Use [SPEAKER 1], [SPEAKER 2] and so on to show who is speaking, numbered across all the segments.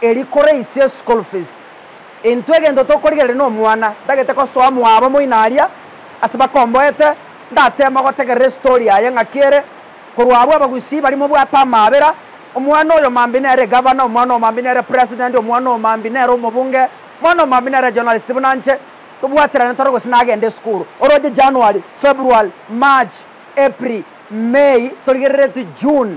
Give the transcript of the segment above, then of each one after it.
[SPEAKER 1] Erio kore isio school fees. Intwe egento tokorigereria nomwana tagete gosoa mwabo moino aria ase bakomboete ndateme gotegerera estory yaye ng'aki ere korwa abwo abagusii baria mobwate amaabera omwana oyo mambi nere gavana omwana oyo mambi nere president omwana oyo mambi nere omobunge omwana oyo mambi nere journalist buna nche tobwaterane tore gose nagende esukuru oroche January February March April May torigerereti June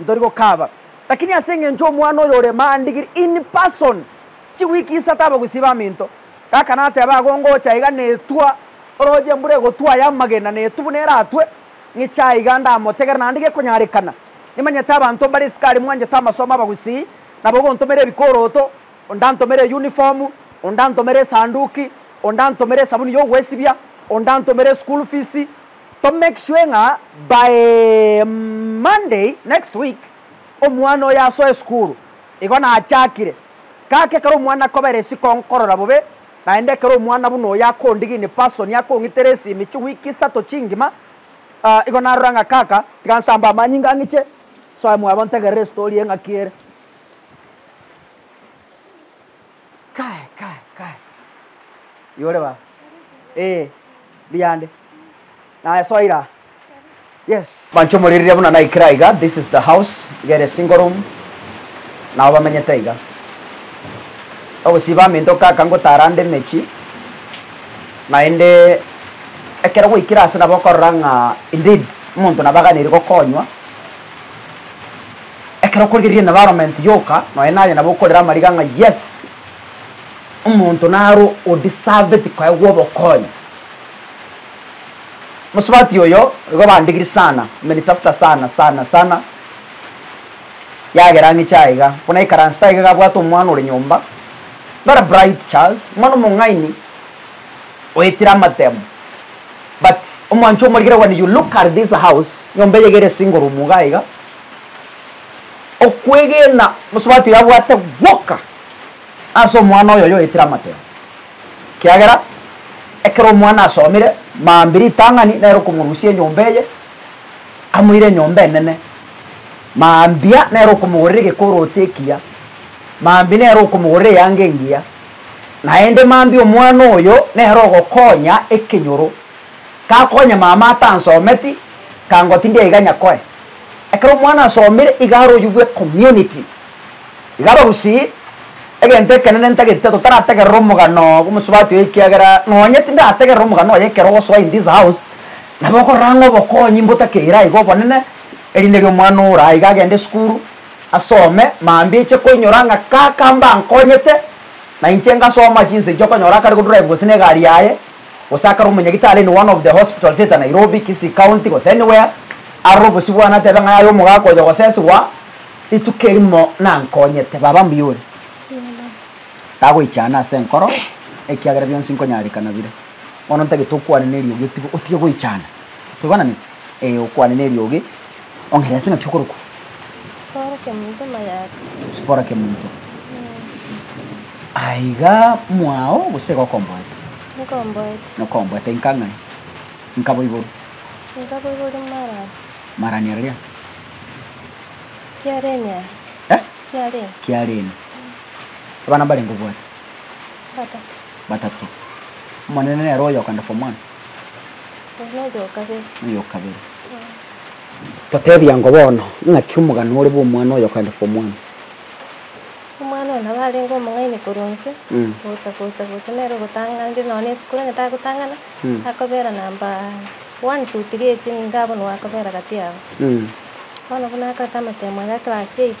[SPEAKER 1] Ntori gokaba, lakini ase engencho omwana oyo ore maandigiri in person chiweek isato abagusii baminto, gaka nateba agwo ngocha iga netwa oroche embura egotwa aya amagena netwa buna eratwe, ng'iche aiga ndamotegere naende gekonyarekana. Nimanyete abanto mbare sukari mwanchete amasomo abagusii, nabo ogontomera ebikoroto, onde antomere eyuniform, onde antomere esanduki, onde antomere esabuni y'ogwesibia, onde antomere eschool fees, To make sure ng'a by Monday next week omwana oyo asoe esukuru. Igo nachakire. Kaka ekero omwana akobera isiko nkorora bobe, naende ekero omwana buna oyo akondigia in person akong'itera esimi chiweek isato chingima, igo narora ng'a kaka tiga nsambe amanyinga ng'iche soe mwabo ntegerere estory eng'aki ere. Kae, kae, kae. Yore baba. Eh, mbuya ande. Naye soa ira aa. Yes. Mancho moriria buna naikire aiga, this is the house, iga ere single room, nao bamenyete aiga. Ogosiba amento kaka ngotara nde emechi, naende ekero gwaikire ase nabo okorora ng'a indeed omonto nabo aganeiri gokonywa. Ekero okorigereria environment yoka nonya naye nabo okorera amariga ng'a yes omonto naro o deserved koegwa obokonyi. Mosubati oyo igo bandigiri sana, amenitafuta sana sana sana yagera ang'e chiaye iga buna aikaransete aiga iga abwate omwana ore nyomba very bright child omwana omong'aini oetire amatemo but omwancho omorigereria kogania you look at this house nyomba eye iga ere single room iga iga. Okwegena Mosubati oyo abwate gwoka ase omwana oyo oyoetire amatemo, ekiagera ekero omwana asomire mambia ritang'ani nere okomorusia enyomba eye, amoire enyomba enene, mambia nere okomogorera egekoroti ekiya, mambia nere okomogorera eyanga engiya, naende mambia omwana oyo nere ogokonya ekenyoro, gakonya mama atansometi, kangoti ndiaiganya koe. Ekero omwana asomire igare oyio bwe community, iga abagusii, egento ekenene ntagete totarategerera omogano bw'omosubati oye ekiagera nonye tindarategerera omogano oye ekero ogosoa in this house nabo okorora ng'a obokonyi mbotakeire aiga obonene erinde ri'omwana ore aiga agende esukuru asome mambia eche koinyora ng'a kaka mbankonyete na inche ngasoma chinsa echi okonyora akare go drive gose na egari yaye gose akare omonyagitari in one of the hospitals at Nairobi, Kisii County gose anywhere, arore obosio bwane atebe ng'a yaya omogaka oyo ogoseswa rituko erimo nankonyete. Baba mbuya ore. Tagoichana ase enkoro ekiagera bionsi nkonyareka nabire. Bono ntagete okwane neriogi otige otige goichana. Toigwananeti? Ee, okwane neriogi. Ong'aire ase ng'aki okorokwa? Sipora Kemonto Mayata. Sipora Kemonto. Aya iga mwao gose iga okomboete? Nkomboete. Nokomboete inka ng'ai? Inka boiboru? Inka boiboru
[SPEAKER 2] marani. Marani aria?
[SPEAKER 1] Kiareni
[SPEAKER 2] aria. Eh? Kiareni. Kiareni.
[SPEAKER 1] Abana mbarenge obwate? Batato.
[SPEAKER 2] Batato.
[SPEAKER 1] Omonene nere oyoka nda form one? Oyokabere. Toteebie ango bono, Ing'aki omogano ore bw'omwana oyokaenda korwa omwana?
[SPEAKER 2] Omwana oyo nabo arenge omong'aini korwa onsi, gocha gocha gocha nere ogotanganire nonya na esukuru onye tagotang'ana, akobera namba one, two, three echi nigo abonwe akobera gati yabo. Bono buna akorete amatemo aye a class eight.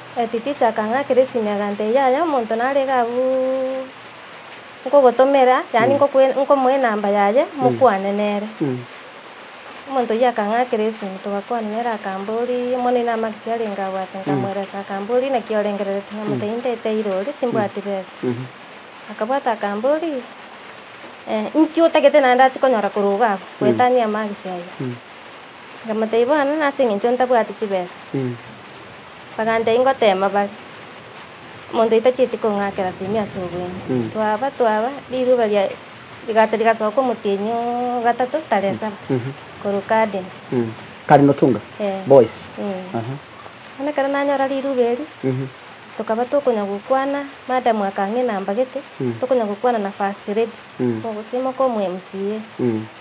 [SPEAKER 2] Etiticha akang'a Keresimi agantebia, Yaya omonto narige abwo nkogotomera, yaani ngokwe nkomoe enamba yaye mokwane nere. Omonto oyio akang'a Keresimi togakwana nere akamboria, mono inwe amakesi arenge agwo ake? Nkamweresa akamboria, Naki orengererete? Nkamotebia, Nindeteire ore, timbwati besa. Akabwata akamboria, Inki otagete naende ndache konyora korwa iga abwo? Gwetania amakesi ayio. Nkamotebia, Bono nase eng'encho ntabwati chibesa. Bagantebia, Ingoteema bare, omonto oyo tachieti kong'akera ase ime ase obweng'u. Twaba twaba, riruba ria rigacha rigasoka omotienyi o gatato tare saba, korwa Kadena. Karino
[SPEAKER 1] Tunga Eh. boys. Mm. Aha. Bono ekero nanyora riruba eri, Mhm. tokaba tokonya gokwana, madam akang'ina mbagete, tokonya gokwana na first lady, Mm. omogusii moka omo MCA. Mm.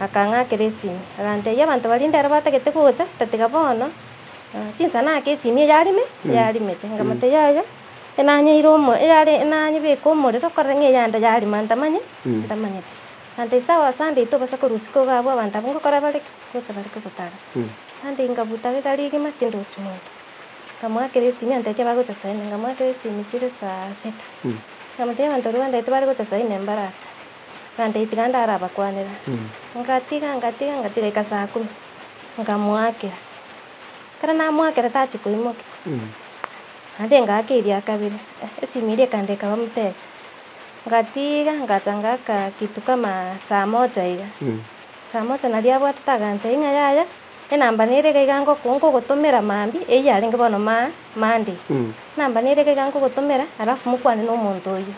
[SPEAKER 1] Akang'akera esimi, agantebia, Abanto baria ndere batagete gocha, tatiga bono chinsana ake esimi eyare me? Eyarime te. Nkamotebia, Yaya, enanyeire omo eyare enanyebeke omorero korere ng'a eyande yarima ntamanye ntamanyete. Agantebia, Sawa, ase ande intwe obasa korwa isiko iga abwo abanto abwo ngokora bare ki? Gocha bare kogotara. Ase ande nkabuta egari egima tindochi monto. Nkamwakera esimi agantebia tibagocha saa inye, nkamwakera esimi chire saa sita. Nkamotebia abanto baria bandagete bare gocha saa inye mbarache. Gante tiga ndarabakwanere. Ngatiga, ngatiga, ngatiga goika saa kumi, nkamoakera. Ekero namoakera tachi koimokia, naende ngaaka eria kabere, esimi eria ekande ekaba mteja. Ngatiga ngacha ngaaka kitu kama saa moja iga, saa moja naria abwatete agantebia ng'a yaya, enamba nere iga iga ngoko nkogotomera mambia, eyio yarenge bono ma Monday. Enamba nere iga iga nkogotomera, alafu mokwane na omonto oyio.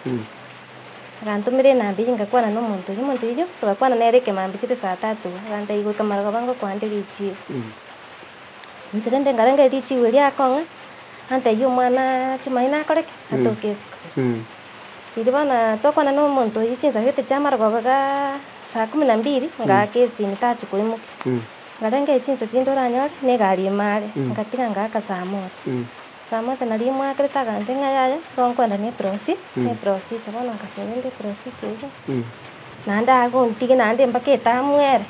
[SPEAKER 1] Agantomera enabii eyio, ngakwana nomonto oyio. Omonto oyio togakwana nere ekemambia chire saa tatu, agantebia, Igwe kemaro gaba ngokwande richiigo. Inche rende nkarenge richiigo erio akong'a, agantebia, Omwana Chimayi nakore ki? Atoke isiko. Riria bono twakwana nomonto oyio chinsa gete chia amarogoba igaa saa kumi na mbili, ngaaka esimi tachia koimokia. Nkarenge chinsa chinde oranyore, na egari ime are, ngatiga ngaaka saa moja. Saa mocha na ribu moakerete agantee ng'a yaya nigo nkwenda ne eprosi ne eprosi echo bono nkasebe nde eprosi echo iga naende agontige naende mpaka etamu ere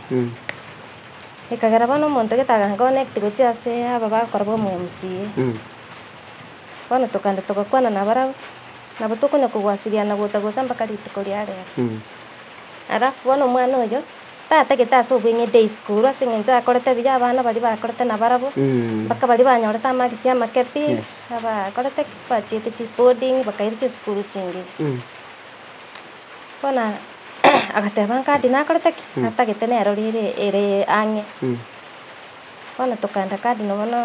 [SPEAKER 1] ekagera bono omonto gete aga connect gochie ase aba bakorabwo omo mca bono tokagenda togakwana na barabwo nabo tokonya kogwasiriana gocha gocha mpaka rituko ria rero alafu bono omwana oyo. Tata gete ase obweng'eiti isiko korwa ase engencho akorete ebiya abana baria bakorete na barabwo, mpaka baria banyorete amagisi amake pi, abakorete ki, bachiete chi boarding bakairwa chisukuru chingiya. Bono agateba ngadi nakorete ki, natagete nero rire ere ang'e. Bono tokaenda cardinal bono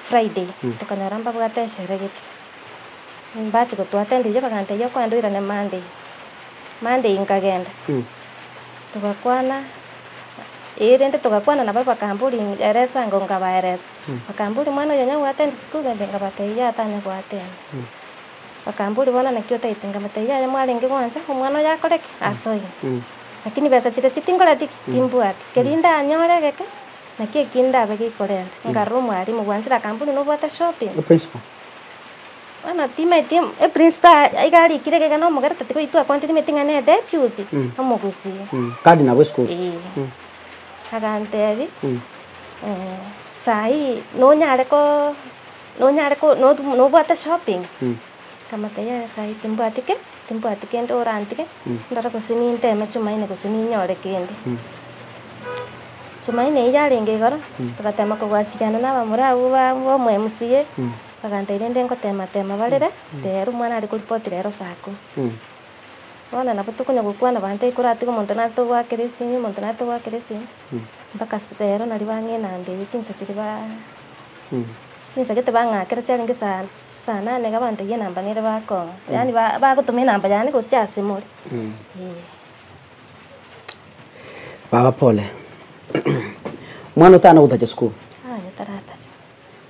[SPEAKER 1] Friday, tokanyora mbabwate eshere gete, mbachi gotwa attend erio bagantebia okoenda oirane Monday. Monday nkagenda togakwana ee rende togakwana na barabwo bakamba ori eresa ango nkabaeresa bakamba ori mwana oyo onya go attend school rende nkabatebia atanya go attend bakamba ori bono naki otaete nkabatebia yaya mwarenge gwancha omwana oyo akore ki? Asoe lakini besa chiria chi tinkoreti ki? Timbwati kerio ndanyore egeke naki
[SPEAKER 2] eki ndabe gekorenta nkarora omwalimu bwanchire akamba ori nobwate shopping? Bono timaeti eprinsipal aiga arikire iga na omogera tatigoyia twakwanete timaeti ng'a ne deputy omogusi. Kadi nabo
[SPEAKER 1] esukuru. Ee.
[SPEAKER 2] Agantebia, eh, saa hii nonyare ko nonyare ko notu nobwate shopping? Nkamotebia yaya saa hii timbwati ki? Timbwati kende orantige ndore gose ninteme Jumaine gose ninyore kende. Jumaine eria arenge igoro, togateema kogwasiriana n'abamura abwo ba b'omweMCA, bagantebia rende ngoteema-teema barere, teera omwana are koripoti rero saa kumi. Bono nabo tokonya gokwana abanto ekero atige omonto naye togoakera esimi, omonto naye togoakera esimi, mpaka ase rero naria bang'ina mbe eye chinsa chiria ba chinsa gete bang'akera chiarenge saa saa nane iga bantebia enamba nere bakong'a, yaani ba bagotoma enamba yane gose chiasimore, eeh.
[SPEAKER 1] Baba pole. Mwana otana gotacha sukuru. Aye
[SPEAKER 2] taratacha.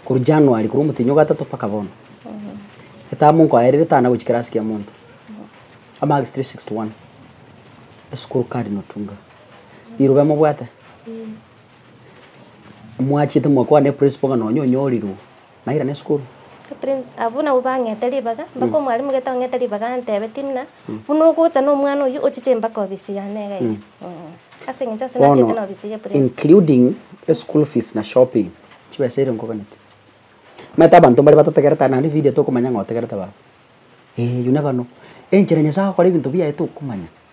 [SPEAKER 2] Koru
[SPEAKER 1] January, koru omotenyi o gatato paka bono. Etamu nkoaerire tana gochi kerasi kia monto. Amarks 361. Esukuru kadi notunga. Rirobe mobwate. Mwachete mwakwana ne principal ng'a nonye onyorirwe. nairana esukuru. Catherine, Abwo nabwo
[SPEAKER 2] bang'ete ribaga, mpaka omwalimu gete ong'ete ribaga antebe, Timnah, buna ogocha na omwana oyio ochiche mpaka obisi yane iga ime. Mh. Ase eng'encho ase nachete Bono, na obisi ye principal. including
[SPEAKER 1] eschool fees na shopping, chibesa erio nkoganeti. Omanyete abanto mbare batotegerete aye naende video tokomanya ng'a otegerete baba. Eeh, you never know. Enchera Nyasae agokora ebinto biaye tokomanya.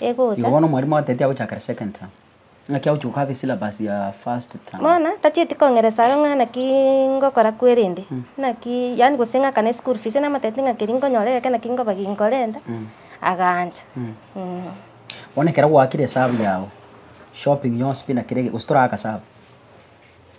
[SPEAKER 2] Igo bono omwarimu agatebia agochakera
[SPEAKER 1] second term, naki agochia gokaba esyllabus ya first term. Bono tachieti kong'eresa
[SPEAKER 2] aro ng'a naki ngokora kwerende, naki yaani gose ng'akana eschool fees, namotebia ng'a keri nkonyora egeke naki nkoba ginkorenta, agancha.
[SPEAKER 1] Bono ekero gwaakire esabu yago, shopping yonsi pi na kera egento, gose toragaka sabu?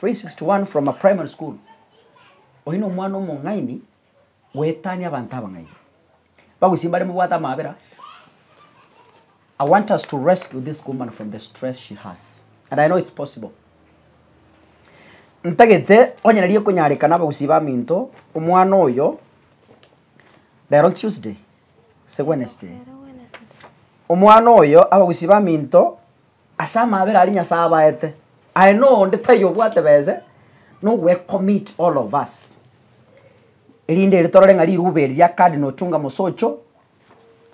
[SPEAKER 1] 361 from a primary school oyi nomwana omong'aini goetania abanto abang'aini bagosie bare mobwate amabera I want us to rescue this woman from the stress she has and I know it's possible ntagete onye nari ekonyarekana abagusi baminto omwana oyo rero Tuesday se Wednesday omwana oyo abagusi baminto Ase amabera aria Nyasae abaete, aye noonde taiyo obwate bese no we commit all of us. Erinde ere torore ng'a riruba eri ria Cardinal Chunga Mosocho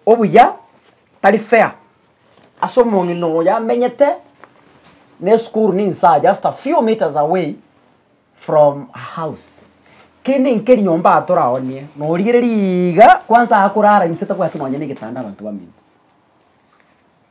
[SPEAKER 1] obuya tari fair ase omong'ina oyo amenyete na esukuru ninsa just a few metres away from her house. Kende enke rinyomba aa toraonie norigereria iga kwansa akorara inse tabwati nonya negetanda abanto bamenye.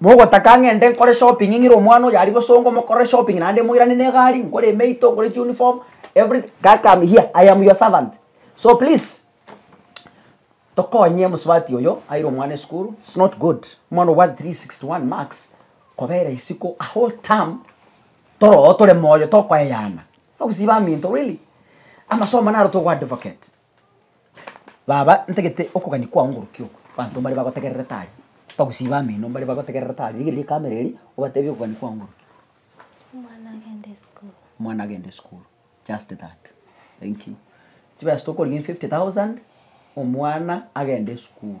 [SPEAKER 1] Mogotaka ng'ende nkore shopping ng'ire omwana oyo aria bosongo mokorere shopping naende moirane ne egari nkore emeito nkore chi uniform everything kaka am here I am your servant so please tokonye omosubati oyo aire omwana esukuru it's not good omwana obwate three sixty one marks kobera isiko a whole term toro oo tore moyo tokoyeyana nogosiba aminto really amasomo naro togo advocate. Baba, ntagete okogania kwao ngorokia oku, abanto mbare bagotegerere tari, bagusibe ameno mbare bagotegerere tari, rigereria ekamera eria, obatebie okogania kwao ngorokia. Omwana agende esukuru. Omwana agende esukuru, just that, thank you. Chibesa tokorigia 50,000, omwana agende esukuru.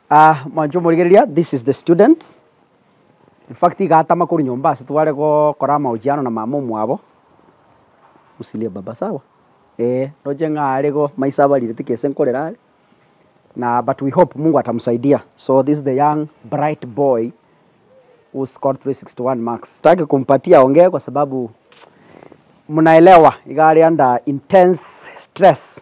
[SPEAKER 1] Ah, mwanche omorigereria, this is the student. In fact, iga atama korwa nyomba ase tware gokora amahojiano na mama omwabo. Usilie baba sawa? Eh, roche ng'a are igo, maiso abarire tiki ase nkorera are. Na but we hope Mungu atamsaidia. So this is the young bright boy who scored 361 marks. Sitaki kumpatia aongee kwa sababu mnaelewa, iga are under intense stress.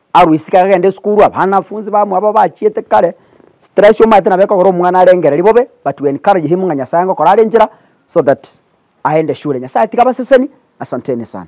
[SPEAKER 1] Arwa isiko akagenda esukuru, abanafunzi bamwabo bachiete kare, stress omanyete nabo ekogera omwana arengereri bobe, but we encourage him ng'a Nyasaye ngokora are enchera so that aende shule. Nyasaye tiga abaseseni, asanteni sana.